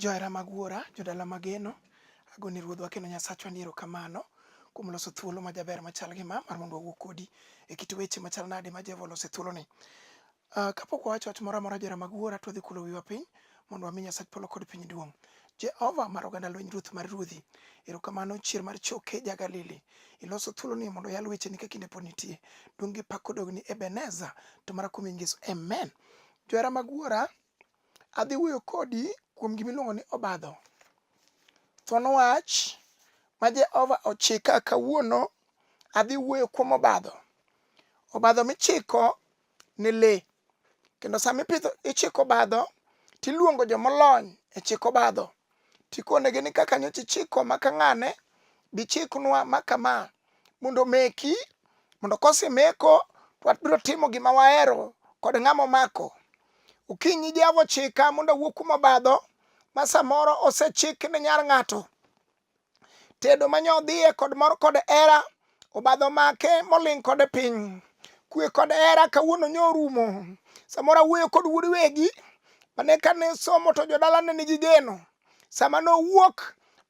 Johera mag Wuora, jodala mageno, agone Ruodhwa kendo Nyasachwa ni erokamano kuom loso thuolo majaber machal gi ma mar mondo wawuo kodi e kit weche machal nade ma Jehova olose thuoloni. Uh, kapok wawacho wach moro amora johera mag Wuora, twadhi kulo wiwa piny mondo wami Nyasach polo kod piny duong'. Jehova mar oganda lweny ruoth mar ruodhi, erokamano chier mar choke ja Galili. Iloso thuolo ni mondo yal wecheni ka kinde pod nitie. Duong' gi pak kodogni Ebeneza to mara kuom Yesu. Amen. Johera mag Wuora, Adhi wuoyo kodi kuom gima iluongo ni obadho. Thuon wach ma Jehova ochika kawuono, adhi wuoyo kuom obadho. Obadho michiko ne le. Kendo sama ipidho ichiko obadho, tiluongo jomolony e chiko obadho. Tikonegi ni kaka nyocha ichiko ma ka ng'ane, bichiknwa ma kama. mondo omeki mondo kosemeko to wabiro timo gima wahero kod ng'ama omako okinyi jehova ochika mondo awuo kuma obadho ma samoro osechik ne nyar ng'ato tedo manyodhiye kod mor kod hera obadho make moling' kode piny kwe kod hera kawuono nyorumo samoro awuoyo kod wuod wegi mane kane somo to jodala ne nigi geno sama nowuok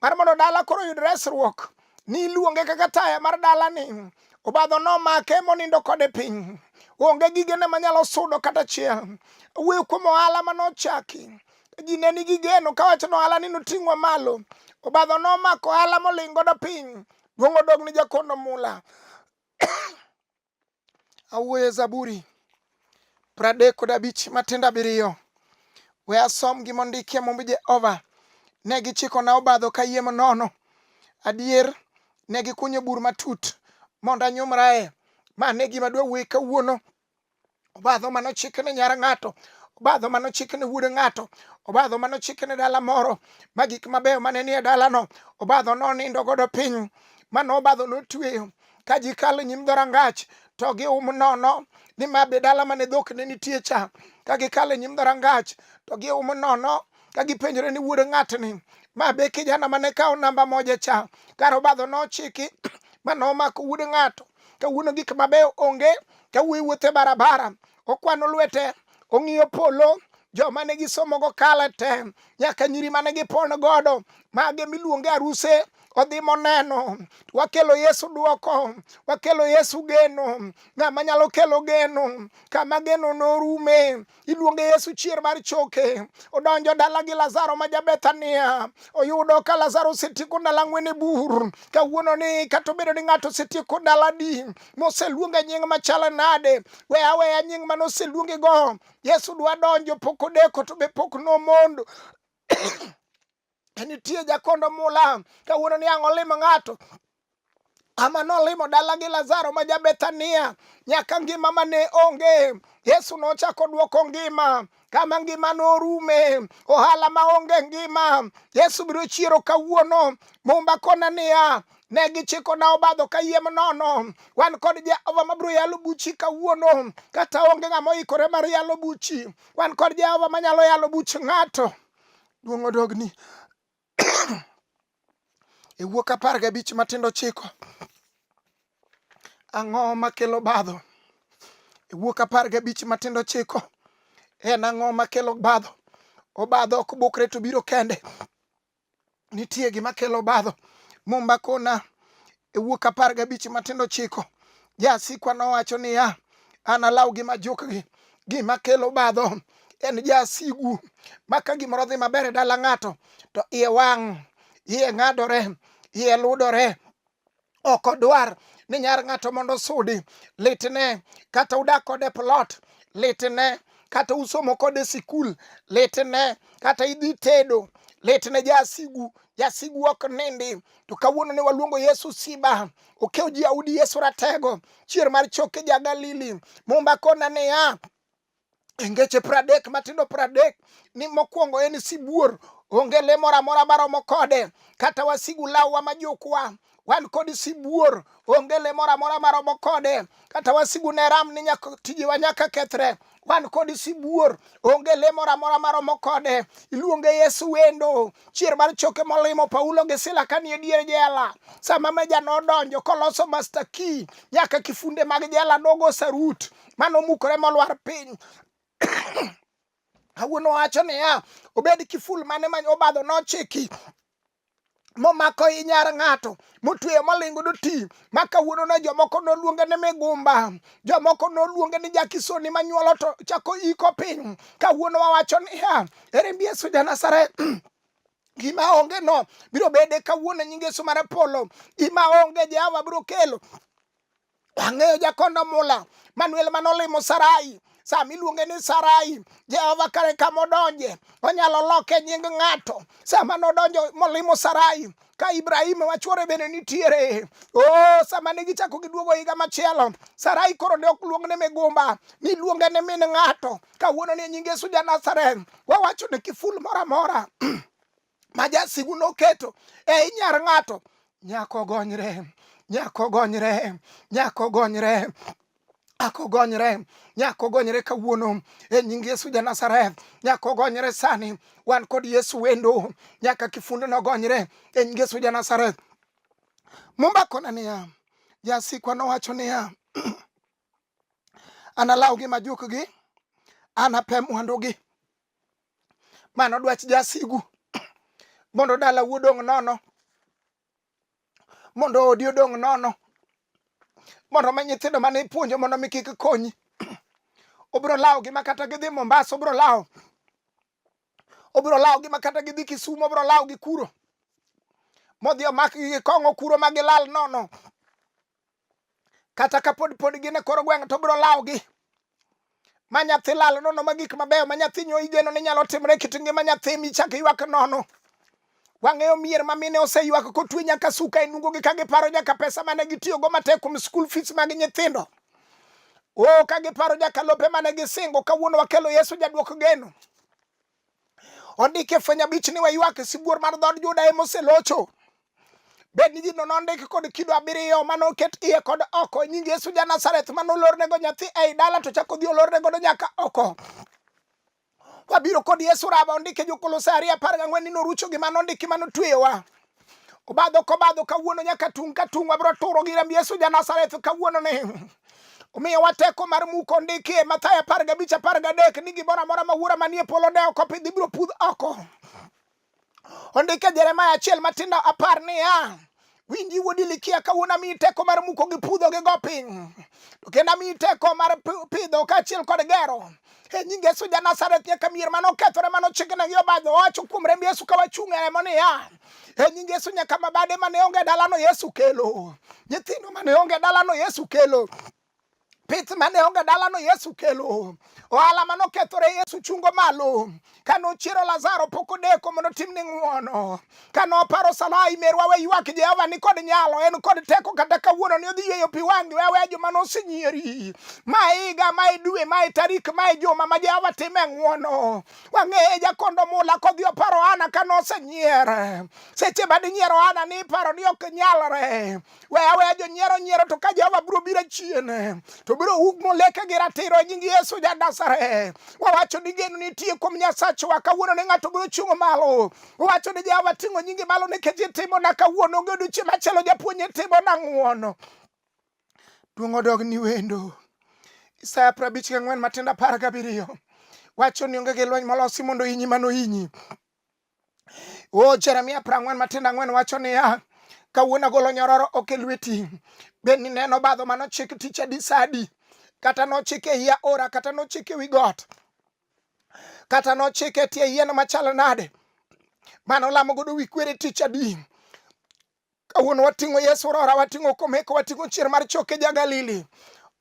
mar mondo dala koro yud resruok ni iluonge kaka taya mar dala ni obadho nomake monindo kode piny onge gigene manyalo sudo kata chiel wuoyo kuom ohala manochaki ji ne nigi geno kawacho ni ohala ni noting'wa malo obadho nomako ohala moling' godo piny duong' odog ni jakono mula awuoye Zaburi pradek kod abich matindo abiriyo. We asom gi mondikie mumb Jehova. Ne gichikona obadho kayiem nono. Adier, ne gikunyo bur matut mondo anyumrae. Ma ne gima dwawuoye kawuono. obadho mane ochik ne nyar ng'ato obadho mane ochik ne wuod ng'ato obadho mane ochik ne dala moro ma gik mabeyo mane nie dalano obadho nonindo godo piny mano obadho notweyo ka ji kalo nyim dhorangach to gium nono ni ma be dala mane dhok ne nitie cha ka gikalo e nyim dhorangach to gium nono ka gipenjore ni wuod ng'atni ma be kijana mane kawo namba moja cha kar obadho nochiki ma nomako wuod ng'ato kawuono gik mabeyo onge kawuoyi wuothe barabara okwano lwete ong'iyo polo joma ne gisomogo kale te nyaka nyiri mane gipon godo mage miluonge aruse odhi moneno wakelo yesu dwoko wakelo yesu geno ng'ama nyalo kelo geno kama geno norume iluonge Yesu chier mar choke. Odonjo dala gi Lazaro ma Jabethania, oyudo ka Lazaro osetieko ndalo ang'wen e bur. Kawuono ni kata obedo ni ng'ato osetieko ndalo adi moseluonge nying machalo nade, we aweya nying mane oseluonge go. Yesu dwa donjo, pok odeko to be pok nomondo nitie jakondo mula kawuono ni ang' olimo ng'ato ama nolimo dala gi lazaro ma jabethania nyaka ngima ma ne onge yesu nochako dwoko ngima kama ngima norume ohala ma onge ngima yesu biro chiero kawuono mumba kona niya ne gichiko na obadho kayiem nono wan kod jehova mabiro yalo buchi kawuono kata onge ng'ama oikore mar yalo buchi wan kod jehova manyalo yalo buch ng'ato Duong' odogni e wuok apar gabich matindo chiko ang'o makelo badho e wuok apar gabich matindo chiko en ang'o makelo badho obadho ok bukre to biro kende nitie gima kelo badho mumba kona E wuok apar gabich matindo chiko, jasikwa nowacho niya, analaw gi majukgi. Gima kelo badho en jasigu ma ka gimoro dhi maber e dala ng'ato to iye wang', iye ng'adore, iye ludore, ok odwar ni nyar ng'ato mondo sudi litne kata udak kode plot litne kata usomo kode sikul litne kata idhi tedo litne jasigu jasigu ok nindi to kawuono ne waluongo yesu siba okew ji audi yesu ratego chier mar choke ja galili mumba kona niya engeche pradek matindo pradek ni mokwongo en sibuor onge le moro amora maromo kode kata wasigu law wa majukwa wan kod sibuor onge le moro amora maromo kode kata wasigu ne ram ni tijewa nyaka kethre wan kod sibuor onge le moro amora maromo kode iluonge yesu wendo chier mar choke molimo paulo gi sila kanie dier jela sama meja nodonjo koloso master key nyaka kifunde mag jela nogo sarut manomukore molwar piny kawuono wacho niya obed kiful mane ma obadho nochiki momako i nyar ng'ato motweyo molingo doti ma kawuono ne jomoko noluonge ni migumba jomoko noluonge ni jakisoni manyuolo to chako iko piny kawuono wawacho niya ere mbi yesu janasaret gima onge no biro bede kawuono nyinge yesu mar polo gima onge jehova biro kelo Ang'eyo jakondo mula Manuel manolimo Sarai sama iluonge ni Sarai, Jehova kare kama odonje, onyalo loke nying ng'ato. Sama nodonjo molimo Sarai, ka Ibrahim wachuore bende nitiere. Oh, sama ne gichako giduogo higa machielo, Sarai koro ne ok luong ne migumba, niluonge ni min ng'ato. Kawuono ni nying Yesu ja Nazareth, wawacho ni kiful moro amora ma jasigu noketo ei nyar ng'ato nyako gonyre nyako gonyre nyako gonyre ako gonyre nyako gonyre kawuono e nying yesu ja nazareth nyako gonyre sani wan kod yesu wendo nyaka kifundo nogonyre e nying yesu ja nazareth mumbakona niya jasikwa nowacho niya analawgi majukgi anape mwandugi Mano dwach jasigu mondo dala wuodong' nono, mondo odi odong' nono, mondo ma nyithindo mane ipuonjo mondo mi kik konyi. Obiro lawo gi ma kata gidhi Mombasa, obiro lawo obiro lawo gi ma kata gidhi Kisumu, obiro lawo gi kuro modhi omak gi kong'o kuro ma gilal nono. kata kapod pod gin e kor gweng' to biro lawogi ma nyathi lal nono ma gik mabeyo ma nyathi nyo igeno ni nyalo timre kit ngima nyathi michak ywak nono wang'eyo mier ma mine oseywak kotwe nyaka suka e nungogi ka giparo nyaka pesa mane gitiyogo matek kuom skul fees mag nyithindo o ka giparo nyaka lope mane gisingo kawuono wakelo yesu jadwok geno ondik e fweny abich ni waywak sibuor mar dhood Juda ema oselocho bed ni gino nondiki kod kido abiriyo mane oket iye kod oko nying Yesu ja Nazareth mane olornego nyathi ei dala to chako dhi olorne godo nyaka oko wabiro kod Yesu raba ondike jo Kolosai ariyo apar gang'wen ni norucho gima nondiki mane otweyowa obadho kobadho kawuono nyaka tung' ka tung' wabiro turo gi remb Yesu Janazareth kawuono ni omiyo wateko mar muko ndiki e Mathayo apar gabich apar gadek ni gimoro amora ma wuora manie polo ne oko pidhi biro pudh oko ondike Jeremaya achiel matindo apar niya winji wuodi likia kawuono amiyi teko mar muko gi pudho gi go piny to kendo amiyi teko mar pidho kaachiel kod gero e nying Yesu ja Nazareth nyaka mier mane okethore mane ochigne gi obadho owacho kuom remb Yesu ka wachung' e remo niya e nying Yesu nyaka mabade mane onge dalano Yesu kelo nyithindo mane onge dalano Yesu kelo pith mane onge dalano Yesu kelo ohala mane okethore Yesu chungo malo Ka nochiero Lazaro pok odeko mondo timne ng'wono. Ka noparo Salai merwa we ywak Jehova ni kod nyalo, en kod teko kata kawuono ni odhi yweyo pi wang'gi we aweya joma nosenyieri. Ma e higa, ma e dwe, ma e tarik, ma e juma ma Jehova time ng'wono. Wang'eye jakondo mula kodhi oparo Hana ka nosenyier. Seche ma dinyiero Hana ni iparo ni ok nyalre. we aweya jonyiero nyiero to ka jehova biro biro chien to biro wuk moleke gi ratiro e nying yesu ja nazareth wawacho ni geno nitie kuom nyasachwa kawuono ne ng'ato biro chungo malo wawacho ni jehova ting'o nyingi malo nikech itimona kawuono onge odiochieng' machielo japuonj itimona ng'uono duong' odog ni wendo isaya prabich gi ang'wen matindo apar gabiriyo wacho ni onge gi lweny molosi mondo inyi mano inyi O Jeremia prang'wen matindo ang'wen wacho niya, kawuono agolo nyororo ok e lweti, bed ni neno badho ma nochik tich adi sadi, kata nochik e iya ora, kata nochik e wi got, kata nochik e tie yien machal nade, mano lamo godo wi kwere tich adi. Kawuono wating'o Yesu rora, wating'o komeko, wating'o chier mar choke ja Galili.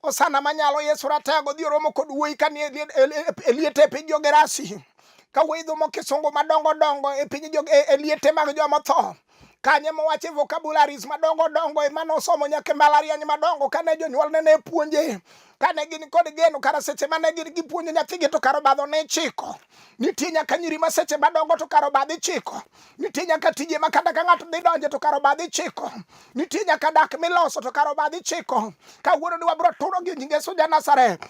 Osana manyalo Yesu rataya godhi oromo kod wuoyi ka nie e liete e piny Jogerasi. Ka wuoyi dhumo kisungu madongo dongo e piny e, e liete mag joma tho. Kanye mowache vocabularies madongo dongo e mane osomo nyaka e mbalariany madongo kane jonyuolne ne puonje. Kane gin kod geno kara seche mane gin gipuonjo nyathigi to kara obadho ne chiko. Nitie nyaka nyiri ma seche madongo to karo badhi chiko. Nitie nyaka tije ma kata ka ng'ato dhi donje to karo badhi chiko. Nitie nyaka dak miloso to karo badhi chiko. Kawuono ni wabiro turo gi nyinge suja Nazareth.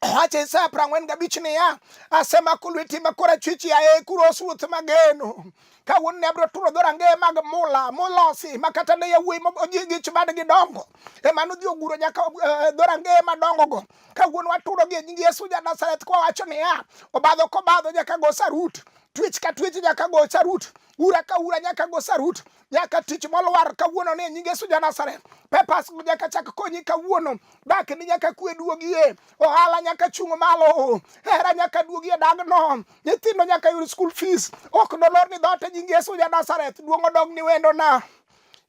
Wache Isaya piero ang'wen gabich niya, asemako lweti ma korachwich yaye kuros ruoth mageno. Kawuono ne abiro turo dhorangeye mag mula molosi ma kata ne yawuoyi gi chubad gidongo ema nodhi oguro nyaka eh, dhorangeye madongogo kawuono waturo gi nying Yesu ja Nazareth kwa wacho niya, obadho kobadho nyaka go sarut, twech ka twech nyaka go sarut, ura ka ura nyaka go sarut, nyaka tich molwar kawuono ni nying Yesu ja Nazareth. Pepas nyaka chak konyi kawuono, dak ni nyaka kwe duogie, ohala nyaka chung' malo, hera nyaka duogie dagno, nyithindo nyaka yud school fees, ok nolor ni dhote nying Yesu ja Nazareth, duong' odog ni wendona.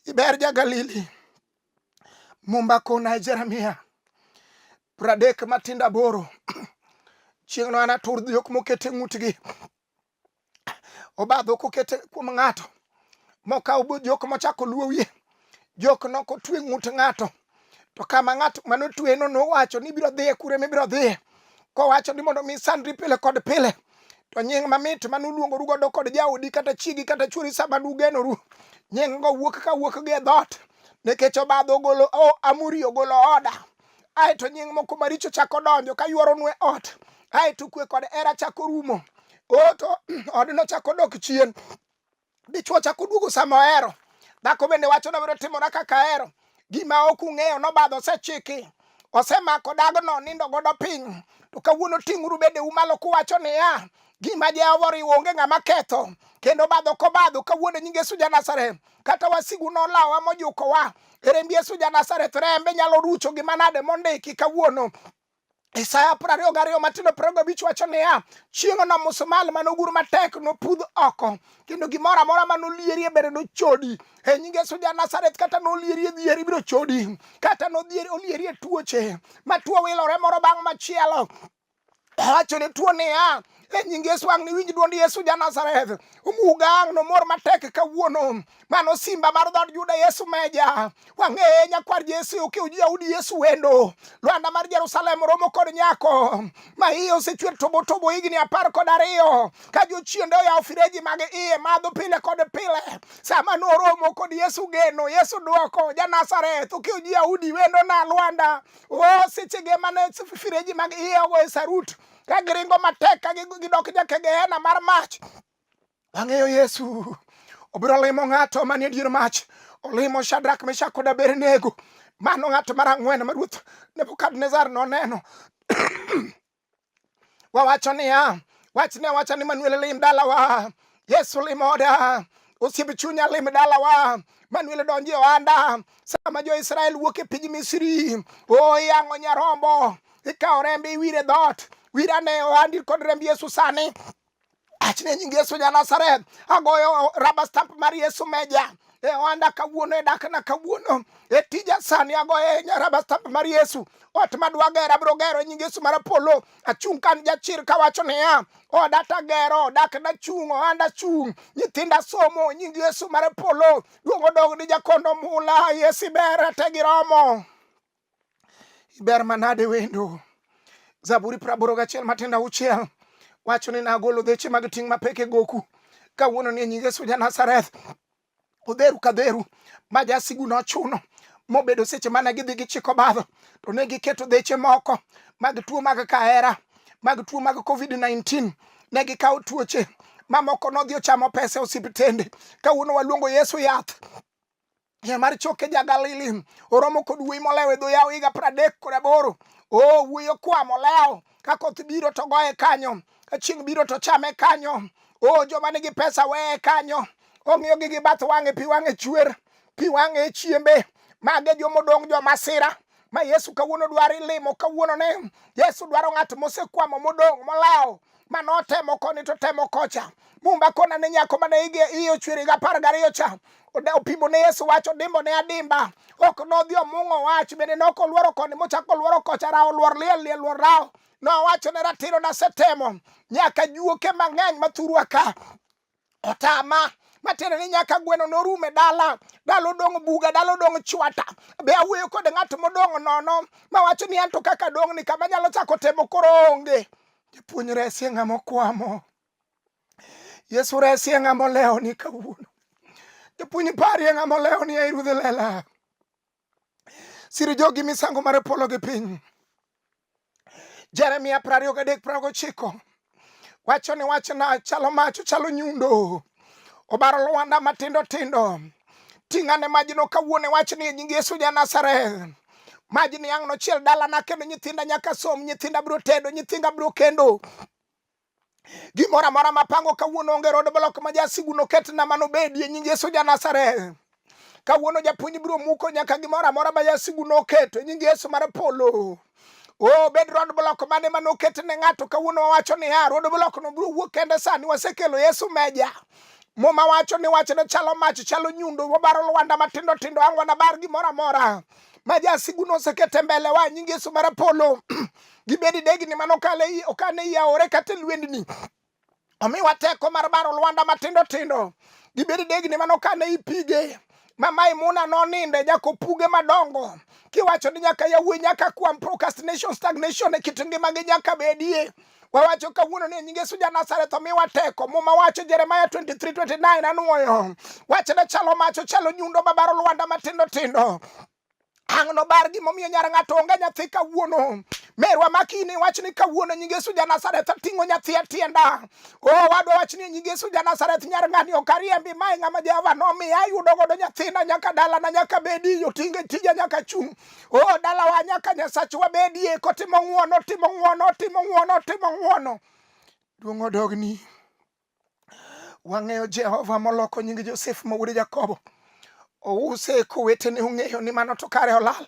Iber ja Galili. Mumba kona Jeremia pradek matindo aboro chieng'no anatur dhiok mokete ng'utgi obadho kokete kuom ng'ato mokaw jok mochako luwo wiye jok noko twe ng'ut ng'ato to kama ng'ato mano tweno nowacho ni ibiro dhiye kure mibiro dhiye kowacho ni mondo mi sandri pile kod pile to nying mamit mane uluongoru godo kod jaodi kata chiegi kata chwori sama nugenoru nying go wuok ka wuok gi e dhoot nikech obadho ogolo oh, amuri ogolo oda aeto nying moko maricho chako donjo ka ywaronwe ot aeto kwe kod era chako rumo oto odno chako dok chien dichwo chako duogo sama ohero dhako bende wacho nabiro timora kaka ahero gima ok ung'eyo nobadho osechiki osemako dagno nindo godo piny to kawuono ting'uru bedeu malo kuwacho niya gima jehova oriwo onge ng'ama ketho kendo badho kobadho kawuono nying yesu ja nazareth kata wasigu nolawa mojukowa remb yesu ja nazareth rembe nyalo rucho gi manade mondiki kawuono Isaya piero ariyo gariyo matindo piero gabich wacho niya, chieng'ono musumal mane ogur matek nopudh oko, kendo gimoro amora mane olierie bende nochodi. e nying Yesu ja Nazareth kata nolieri e dhieri biro chodi kata nodhieri olieri e tuoche ma tuo wilore moro bang' machielo awacho ne tuo niya e nying Yesu ang' niwinj dwond Yesu ja Nazareth omuga ang' nomor matek kawuono mano simba mar dhod Juda Yesu meja wang'eye nyakwar Yesu okew ji Yahudi Yesu wendo Lwanda mar Jerusalem romo kod nyako ma iye osechwer tobo tobo higni apar kod ariyo ka jochiende oyawo fireji mag iye madho pile kod pile sama noromo kod yesu geno yesu dwoko janazareth ukiyo ji yahudi wendo na lwanda o oh, sechege mane fireji mag iye ogo e sarut ka giringo matek ka gidok jake gehena mar mach wang'eyo yesu obiro limo ng'ato manie dier mach olimo shadrak meshak kod abednego mano ng'ato mar ang'wen ma ruoth nebukadnezar noneno wawacho niya, wachne awacha ni Manuel lim dalawa, Yesu limoda, osiep chunya lim dalawa Manuel donjo e ohanda sama jo-Israel wuok e piny Misri. O yang'o nyarombo, ikawo rembe iwire dhoot, wirane ohandi kod remb Yesu sani. Achne nying Yesu ja Nazareth, agoyo raba stamp mar Yesu meja e ohanda kawuono, e dakna kawuono, e tija sani agoyo e raba stamp mar Yesu. Ot madwa gero abiro gero e nying Yesu mar Apollo. Achung' kan jachir kawacho niya, oda tagero, dakna chung', ohanda chung', nyithinda somo, nying Yesu mar Apollo. Duong' odog ni jakondo mula, Yesu ber, te giromo. iber manade wendo zaburi praboro gachiel matenda uchiel wacho ni nagolo dheche mag ting' mapek e goku kawuono ni e nying yesu ja nazareth odheru ka dheru ma jasigu nochuno mobedo seche mane gidhi gichiko badho to ne giketo dheche moko mag tuo mag kahera mag tuo mag covid-19 ne gikawo tuoche mamoko nodhi ochamo pesa e osiptende kawuono waluongo yesu yath Yien mar choke ja Galili oromo kod wuoyi molewo e dho yawo higa pradek kod aboro. O wuoyi okwa molewo ka koth biro to goye kanyo, ka chieng' biro to chame kanyo. O joma nigi pesa weye kanyo, ong'iyogi gi bath wang'e, pi wang'e chwer, pi wang'e e chiembe. Mage jomodong' jomasira, ma Yesu kawuono dwaro ilimo kawuono ne Yesu dwaro ng'at mosekwamo modong' molawo ma notemo koni to temo kocha mumba kona ne nyako mane ige iye ochwere ga apar gariyo cha opimo ne Yesu wacho dimbo ne adimba ok nodhi omung'o wach bende ne ok oluoro koni mochako oluoro kocha rawo oluor liel liel luor rawo nowacho ne ratiro nasetemo nyaka juoke mang'eny mathurwa ka otama matiende ni nyaka gweno norum e dala dalo dong' buga dalo dong' chwata be awuoyo kod ng'at modong' nono mawacho ni anto kaka dong' ni kama nyalo chako temo koro onge japuonj resie ng'ama okwamo yesu resie ng'ama olewo ni kawuono japuonj parie ng'ama olewo ni ei ruodh lela siro jogi misango mar polo gi piny. Jeremia prariyo gadek prago chiko wacho ni wachna chalo mach ochalo nyundo obaro lwanda matindo tindo ting'ane majno kawuone wach ni nying Yesu ja Nazareth majni ang' nochiel dalana kendo nyithinda nyaka som nyithinda biro tedo nyithinda biro kendo Gimoro amora mapango kawuono onge rod blok ma jasigu noket na mano bedie nying Yesu ja Nazareth. Kawuono japuonj biro muko nyaka gimoro amora ma jasigu noketo nying Yesu mar polo. Oh, bed rod blok mane ma noket ne ng'ato kawuono wawacho niya, rod blok no biro wuok kende sani wasekelo Yesu meja. Muma wacho ni wachne chalo mach, chalo nyundo, wabaro lwanda matindo tindo, ang' wanabar gimoro amora ma jasigu nosekete mbele wa nying Yesu mar polo. gibedi degni mane okane i aore kata e lwendni omiwa teko mar baro lwanda matindo tindo gibedi degni mane okane i pige ma Maimuna noninde nyaka opuge madongo kiwacho ni nyaka yawuoyi nyaka kwam procrastination stagnation e kit ngimagi nyaka bedie wawacho kawuono ni nyinge suja Nazareth omiwa teko muma wacho Jeremia 23:29 anwoyo wachne chalo macho chalo nyundo mabaro lwanda matindo tindo Ang' nobar gimomiyo nyar ng'ato onge nyathi kawuono. Merwa makini wach ni kawuono nyinge Yesu ja Nazareth ating'o nyathi e tienda. O wadwa wach ni nyinge Yesu ja Nazareth nyar ng'ani ok ariembi mae ng'ama Jehova nomiya ayudo godo nyathina nyaka dalana nyaka bedi otinge tija nyaka chung'. O dalawa nyaka Nyasachwa bedie kotimo ng'wono timo ng'wono timo ng'wono timo ng'wono. Duong' odogni. Wang'eyo Jehova moloko nying Josef ma wuod Jakobo. Ouse kowetene ong'eyo ni mano to kare olal.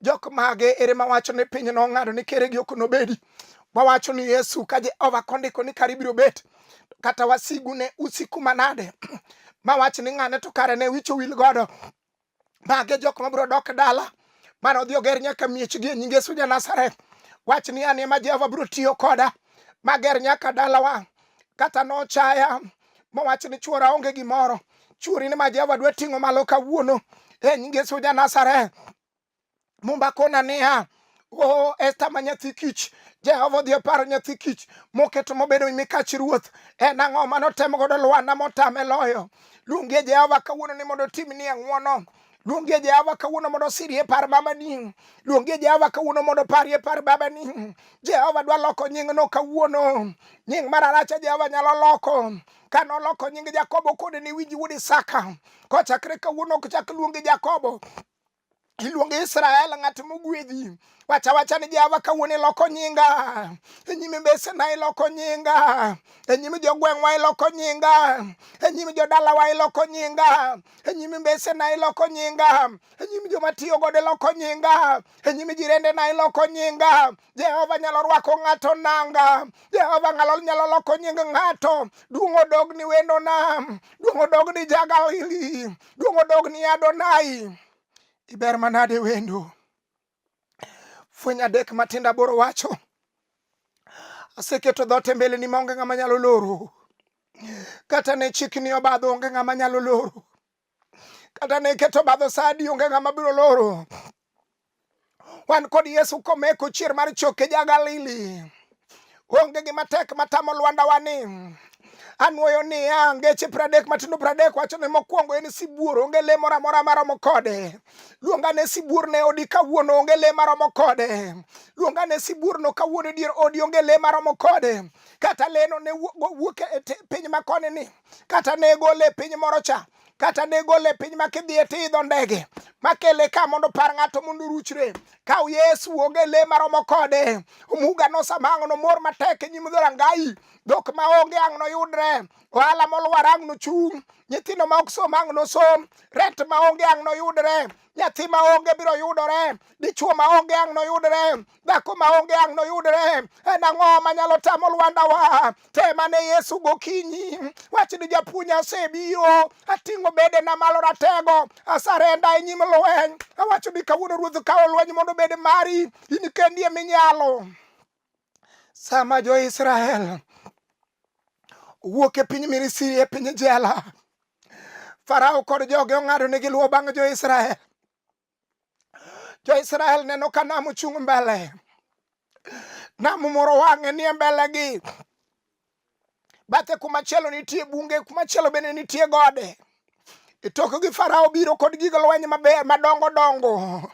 Jok mage ere mawacho ni piny nong'ado ni keregi ok nobedi. Wawacho ni Yesu ka Jehova kondiko ni kare ibiro bet. Kata wasigu ne usiku manade. Mawach ni ng'ane to kare ne wicho wil godo. Mage jok ma biro dok dala mane odhi oger nyaka miechgi e nying Yesu ja Nazareth. Wach ni an ema Jehova biro tiyo koda mager nyaka dalawa. Kata nochaya mowach ni chuora onge gimoro, chuori ni ma Jehova dwa ting'o malo kawuono e nying Yesu ja Nazareth. Mumba kona niya, Oh, Esther ma nyathi kich, Jehova odhi oparo nyathi kich moketo mobedo mikach ruoth. En ang'o ma notemo godo Lwana motame loyo? Luongie Jehova kawuono ni mondo otimni ang'wono. Luongie Jehova kawuono mondo osirie par babani. Luongie Jehova kawuono mondo oparie par babani. Jehova dwa loko nyingno kawuono. Nying mar Aracha Jehova nyalo loko. Ka noloko nying Jakobo kode ni winji wuod Isaka. Kochakre kawuono ok chak luongi Jakobo iluongo Israel ng'at mogwedhi wacha wacha ni Jehova kawuono iloko nyinga e nyime mbesena iloko nyinga e nyime jogweng'wa iloko nyinga e nyime jodalawa iloko nyinga e nyime mbesena iloko nyinga e nyime joma tiyo godo iloko nyinga e nyime jirendena iloko nyinga Jehova nyalo rwako ng'ato nanga. Jehova ng'alo nyalo loko nying ng'ato. Duong' odog ni wendo nam. Duong' odog ni Jagalili. Duong' odog ni Adonai. Iber manade wendo. Fweny adek matinda boro wacho. Aseketo dhoot e mbeleni maonge ng'ama nyalo loro. Kata ne chikni obadho onge ng'ama nyalo loro. kata ne iketo badho sadi onge ng'ama biro loro wan kod yesu komeko chier mar choke ja galili onge gima tek matamo lwandawa ni anwoyo niya ngeche pradek matindo pradek wacho ne mokwongo en sibuor onge le moro amora maromo kode luonga ne sibuor ne odi kawuono onge le maromo kode luonga ne sibuor no kawuono e dier odi onge le maromo kode kata leno ne wuok e piny makoni ni kata ne gole e piny moro cha kata ne gole e piny ma kidhiye tiidho ndege makele ka mondo par ng'ato mondo oruchre kaw yesu wuog e le maromo kode omuga nosamang'o nomor matek e nyim dhorangayi dhok ma onge ang' noyudre ohala molwar ang' nochung' nyithindo ma ok som ang' nosom rent ma onge ang' noyudre nyathi maonge biro yudore dichuo maonge ang' noyudre dhako maonge ang' noyudre en ang'o manyalo tamo lwandawa temane yesu gokinyi wach ni japuonj asebiro ating'o bedena malo ratego asarenda e nyim lweny awacho ni kawuono ruoth kawo lweny mondo obed mari in kendi eminyalo sama jo-israel owuok e piny Misri e piny jela. Farao kod joge ong'ado ni giluwo bang' jo-Israel. Jo-Israel neno ka nam ochung' mbele. Nam moro wang'e nie mbelegi. Bathe kumachielo nitie bunge, kumachielo bende nitie gode. E tokgi Farao biro kod gig lweny maber madongo dongo.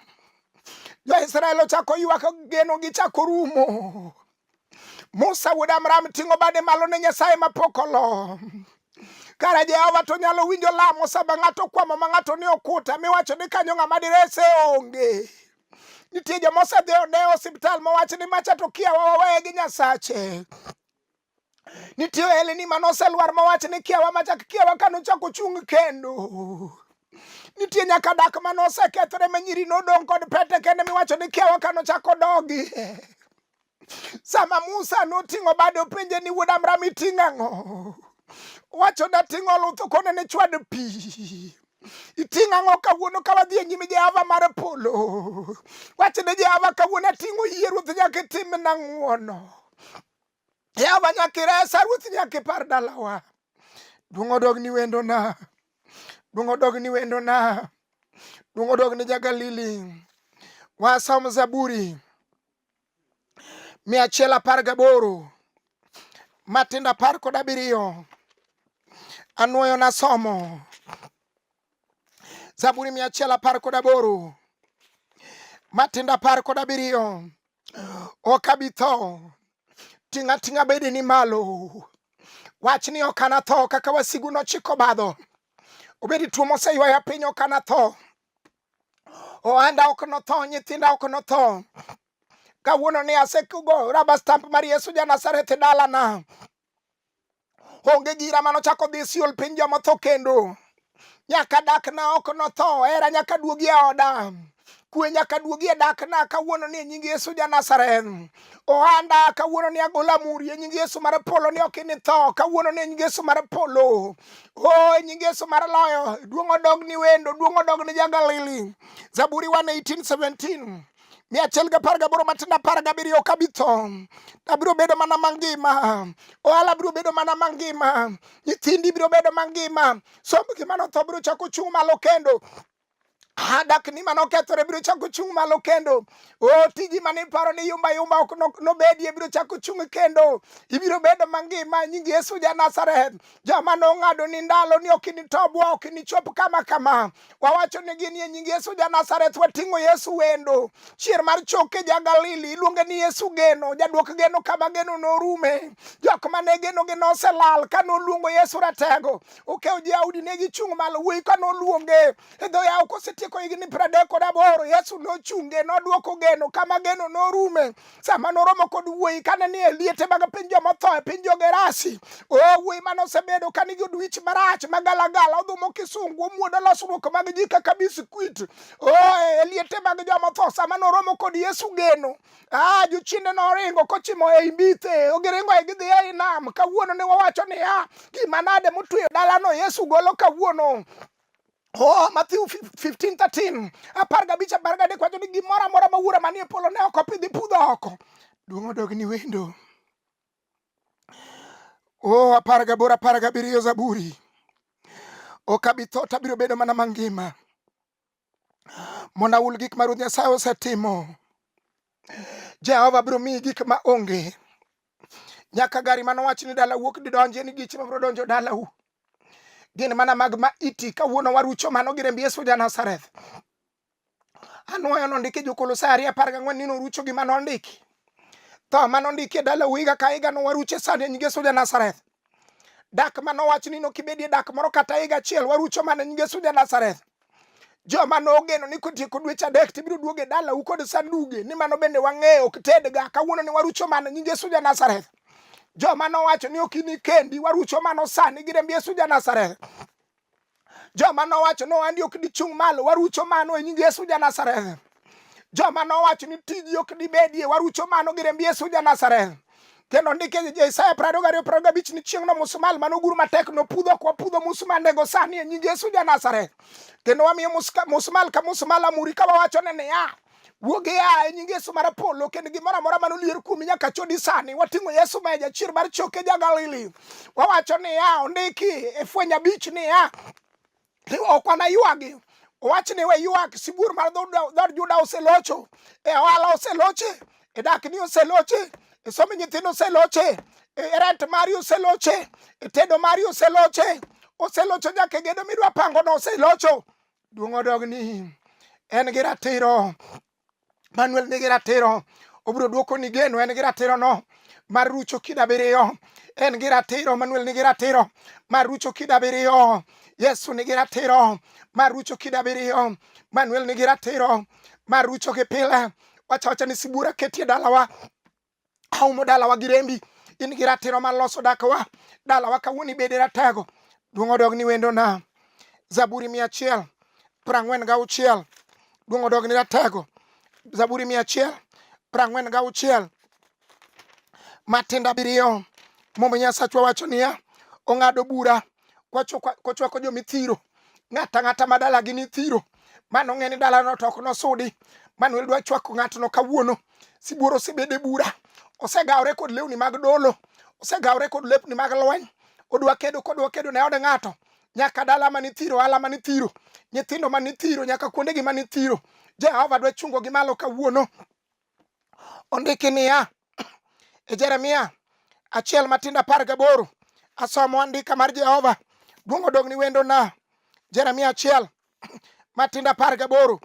Jo-Israel ochako ywak, geno gichako rumo. Musa wuod Amram ting'o bade malo ne Nyasaye mapok olo. Kara Jehova to nyalo winjo lamo sama ng'ato kwamo ma ng'ato ni okuta miwacho ni kanyo ng'ama direse onge. Nitie joma osedhi one osiptal mowach ni macha to kiawa waweye gi Nyasache. Nitie eleni mane oselwar mowach ni kiawa machak kiawa kane ochako chung' kendo. Nitie nyaka dak mane osekethore ma nyiri nodong' kod pete kende miwacho ni kiawa kane ochako dogi. sama Musa noting'o bade openje ni wuod Amram iting'o ang'o? Wacho dating'o luth okone ne chwad pi. Iting'o ang'o kawuono ka wadhi e nyim Jehova mar polo? Wacho ne Jehova kawuono ating'o yie ruoth nyaka itimna ng'wono. Jehova nyaka iresa ruoth nyaka ipar dalawa. Duong' odog ni wendona. Duong' odog ni wendona. Duong' odog ni ja Galili. Wasom Zaburi. mia achiel apar gaboro matindo apar kod abiriyo anwoyo nasomo zaburi mia achiel apar kod aboro matindo apar kod abiriyo ok abi tho ting'a ting'a bedeni malo wach ni ok anatho kaka wasigu nochiko badho obedi tuo moseywaya piny ok anatho Ohanda ok notho, nyithinda ok notho. Kawuono ni asekugo raba stamp mar Yesu ja Nazareth e dalana. Onge gira mano chako dhi siol piny joma tho kendo. Nyaka dakna ok notho, hera nyaka duogi e oda. Kwe nyaka duogi e dakna kawuono ni e nying Yesu ja Nazareth. ohanda kawuono ni agola muri e nying Yesu mar polo ni ok initho kawuono ni e nying Yesu mar polo o e nying Yesu mar loyo duong' odog ni wendo duong' odog ni jagalili Zaburi 1:18-17 mia achiel gi apar gaboro matindo apar gabiriyo ok abi tho abiro bedo mana mangima ohala biro bedo mana mangima nyithindi biro bedo mangima somb gima notho biro chako chung' malo kendo adak ni mano kethore biro chako chung' malo kendo o tiji mane iparo ni yumba yumba ok nobedie biro chako chung' kendo ibiro bedo mangima nying yesu ja nazareth joma nong'ado ni ndalo ni ok initobwa ok inichop kama kama wawacho ni gin ye nying yesu ja nazareth wating'o yesu wendo chier mar choke ja galili iluonge ni yesu geno jadwok geno kama geno norume jok mane geno gi noselal ka noluongo yesu ratego okewo jaudi ne gichung' malo wuoyi ka noluonge e dho yawo kosetieko higni pradek kod aboro yesu nochunge nodwoko geno kama geno norume sama noromo kod wuoyi kane ni e liete mag piny jomotho e piny jogerasi o oh, wuoyi mane osebedo ka nigi odwich marach magalagala odhumo kisungu omuodo losruok mag ji kaka bisikwit o oh, e liete mag jomotho sama noromo kod yesu geno Ah, jochiende noringo kochimo ei mbithe ogiringo e gidhi ei nam kawuono ne wawacho niya gima nade motweyo dalano yesu golo kawuono Oh, Matthew 15, 13. Apar gabich apar gadek wacho ni gimoro amora ma wuora manie polo ne ok opidhi pudho oko. Duong' odogni wendo. Oh, apar gaboro apar gabiriyo Zaburi. Ok abi tho to abiro bedo mana mangima. mondo ahul gik ma Ruoth Nyasaye osetimo. Jehova biro miyi gik ma onge. Nyaka gari mane owach ni dala wuok didonje ni geche mabiro donjo dalau. Gin mana mag ma iti kawuono warucho mano gi remb Yesu ja Nazareth. Anwoyo nondiki Jokolosai ariyo apar gang'wen ni norucho gima nondiki. Tho ma nondiki e dalau higa ka higa nowarucho e sani e nying Yesu ja Nazareth. dak ma nowach ni nokibedie dak moro kata higa achiel warucho mana nyinge suja Nazareth joma nogeno ni kotieko dweche adek tibiro duoge dalau kod sanduge ni mano bende wang'eyo ok tedga kawuono ni warucho mana nyinge Yesu ja Nazareth joma nowacho ni ok ini kendi warucho mano sani gi remb Yesu ja Nazareth joma nowacho ni wandi ok dichung' malo warucho mano e nying Yesu ja Nazareth joma nowacho ni tiji ok dibedie warucho mano gi remb Yesu ja Nazareth kendo ndike Isaya prariyo gariyo prariyo gabich ni chieng'no musmal mane oguru matek nopudho kwa pudho musmandego sani e nying Yesu ja Nazareth kendo wamiyo musmal ka musmal amuri ka wawachone niya wuog ia e nying Yesu mar polo kendo gimoro amora mane olier kuomi nyaka chodi sani wating'o Yesu ma jachir mar choke ja Galili wawacho niya ondiki e fweny abich niya ok wanaywagi owach ni we ywak sibuor mar dhod Juda oselocho e ohala oseloche e dakni oseloche e somo nyithindo oseloche e rent mari oseloche e tedo mari oseloche oselocho nyaka e gedo midwa pangono oselocho duong' odog ni en gi ratiro manuel nigi ratiro obiro dwoko ni geno en gi ratiro no mar rucho kida biriyo en gi ratiro manuel nigi ratiro mar rucho kida biriyo yesu nigi ratiro mar rucho kida biriyo manuel nigi ratiro mar rucho gi pile wachawacha ni sibura ketie dalawa aumo dalawa gi rembi in gi ratiro mar loso dakwa dalawa kawuono ibede ratego duong' odog ni wendo na zaburi mia achiel prang'wen ga uchiel duong' odog ni ratego zaburi mia achiel prang'wen ga uchiel matinda biriyo momo nyasachwa wacho niya ong'ado bura kochwako jomithiro ng'ata ng'ata ma dalagi ni thiro mano ng'e ni dalano to ok nosudi manuel dwa chwako ng'atno kawuono sibuor osebede bura osegawore kod lewni mag dolo osegawore kod lepni mag lweny odwa kedo kodwa kedo ne od ng'ato nyaka dala mani thiro ala mani thiro nyithindo mani thiro nyaka kuondegi mani thiro jehova dwa chungo gi malo kawuono Ondiki niya e Jeremia achiel matindo apar gaboro asomo andika mar Jehova duong' odog ni wendo na Jeremia achiel matindo apar gaboro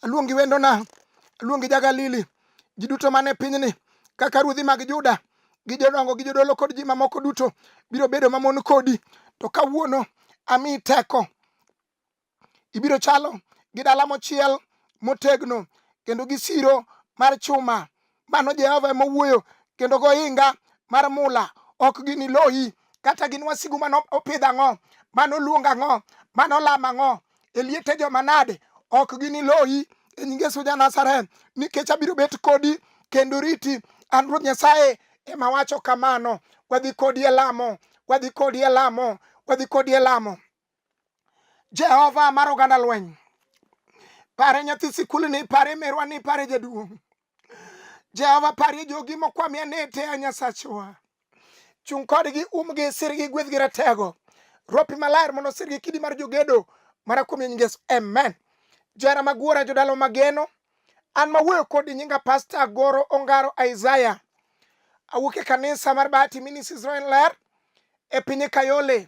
aluongi wendo na aluongi jagalili ji duto mane pinyni kaka ruodhi mag Juda gi jodongo gi jodolo kod ji mamoko duto biro bedo mamon kodi to kawuono ami teko Ibiro chalo gi dala mochiel motegno kendo gi siro mar chuma. Mano Jehova ema owuoyo kendo gohinga mar mula ok giniloyi kata gin wasigu mano opidh ang'o mano luong ang'o mano lam ang'o e liete joma nade ok giniloyi e nying Yesu ja Nazareth nikech abiro bet kodi kendo riti an Ruoth Nyasaye ema wacho kamano wadhi kodi e lamo wadhi kodi e lamo wadhi kodi e lamo Jehova mar oganda lweny. Pare nyathi sikul ni, pare merwa ni, pare jaduong'. Jehova parie jogi mokwamia ni te a Nyasachwa. Chung' kodgi, umgi, sirgi, gwedhgi ratego. Ropi maler mondo sirgi kidi mar jogedo mara kuom nying Yesu. Amen. Jara maguora jodalo mageno. An mawuoyo kodi nyinga Pasta Goro Ongaro Isaiah. Awuok e kanisa mar Bahati Ministries Roen Ler e piny Kayole.